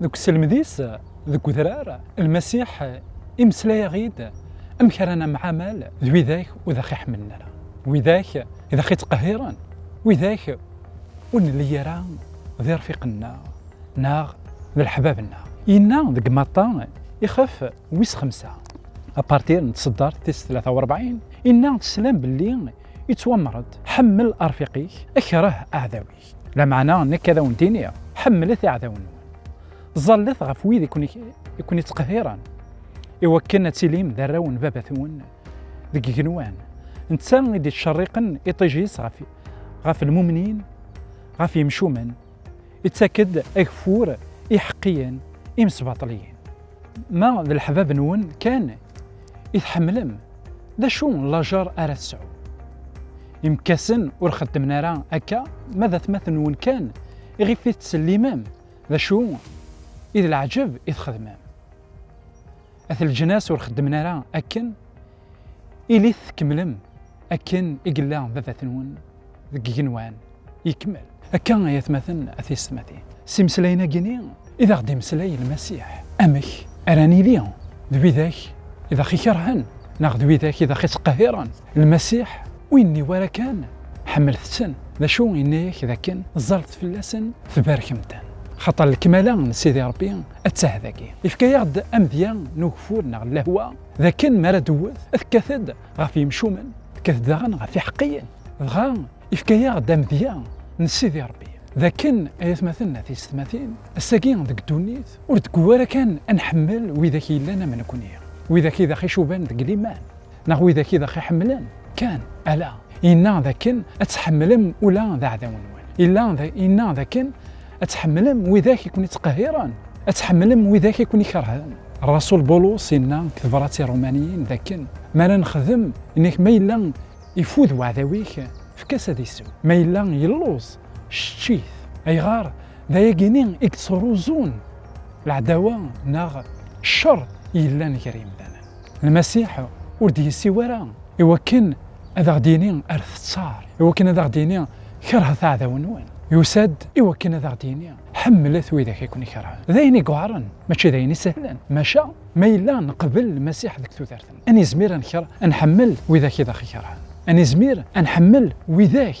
Deg uselmed-is deg udrar, Lmasiḥ imeslay-aɣ-id amek ara nemɛamal d widak ur d aɣ-iḥemmlen ara, widak i d aɣ-ittqehhiren, widak ur nelli ara d irfiqen-nneɣ neɣ d leḥbab-nneɣ. Yenna deg Matta ixef wis xemsa, apartir n tseddart tis tlata u rebɛin, Inna, Teslam belli ittwamer-d, Ḥemmel arfiq-ik, akreh aɛdaw-ik. Lameɛna nekk ad awen-d-iniɣ, ḥemmlet iɛdawen-nwen. Ẓallet ɣef wid i ken-ittqehhiren, iwakken ad tilim d arraw n Baba-twen deg igenwan. Netta i d-ittcerriqen iṭij-is ɣef lmumnin, ɣef yemcumen, ittak-d ageffur i iḥeqqiyen, imesbaṭliyen. Ma d leḥbab-nwen kan i tḥemmlem, d acu n lajer ara tesɛum? Imekkasen ur xeddmen ara akka, ma d atmaten-nwen kan iɣef i tettsellimem, d acu i d leɛǧeb i txedmem? At leǧnas ur xeddmen ara akken, ilit tkemmlem akken i yella baba-tnwen. deg igenwan yekmel akka ay atmaten a tiyessetmatin s imeslayen-agi-nni i d aɣ-d-imeslay Lmasiḥ amek ara nili d widak i d aɣ-ikerhen neɣ d widak i d aɣ-ittqehhiren Lmasiḥ ur yenni wara kan ḥemmlet-ten d acu yenna-ak d akken ẓẓalet fell-asen tbarkem-ten xaṭer lekmala n Sidi Ṛebbi atta dagi. Yefka-aɣ-d amedya n ugeffur neɣ n lehwa d akken mi ara d-tewwet tekkat-d ɣef yimcumen tekkat daɣen ɣef iḥeqqiyen dɣa ifka-yaɣ-d amedya n Sidi Rebbi d akken ay atmaten n tisetmatin ass-agi deg ddunit ur deg-u ara kan ad nḥemmel widak yellan am nekkni widak i d aɣ-icuban deg liman neɣ widak i d aɣ-iḥemmlen kan ala yenna d akken ad tḥemmlem ula d aɛdaw-nwen illa yenna d akken Ad tḥemmlem widak i ken-ittqehhiren, ad tḥemmlem widak i ken-ikerhen. Rasul Bulus inna deg tebrat i Ṛumaniyin dakken mi ara nexdem, inna-k ma yella ifud weɛdaw-ik, efk-as ad isew, ma yella yelluẓ, cečč-it. Ayɣer? D ayagi-nni i yettruẓun leɛdawa neɣ cceṛ yellan gar yemdanen. Lmasiḥ ur d-yessiw ara i wakken ad aɣ-d-yini ar teţţar, i wakken ad aɣ-d-yini kerhet aɛdaw-nwen. Yusa-d i wakken ad aɣ-d-yini ḥemmlet widak i ken-ikerhen. D ayen i yuɛren, mačči d ayen isehlen. Maca ma yella neqbel Lmasiḥ deg tudert-nneɣ, ad nizmir ad nḥemmel widak i d aɣ-ikerhen, ad nizmir ad nḥemmel widak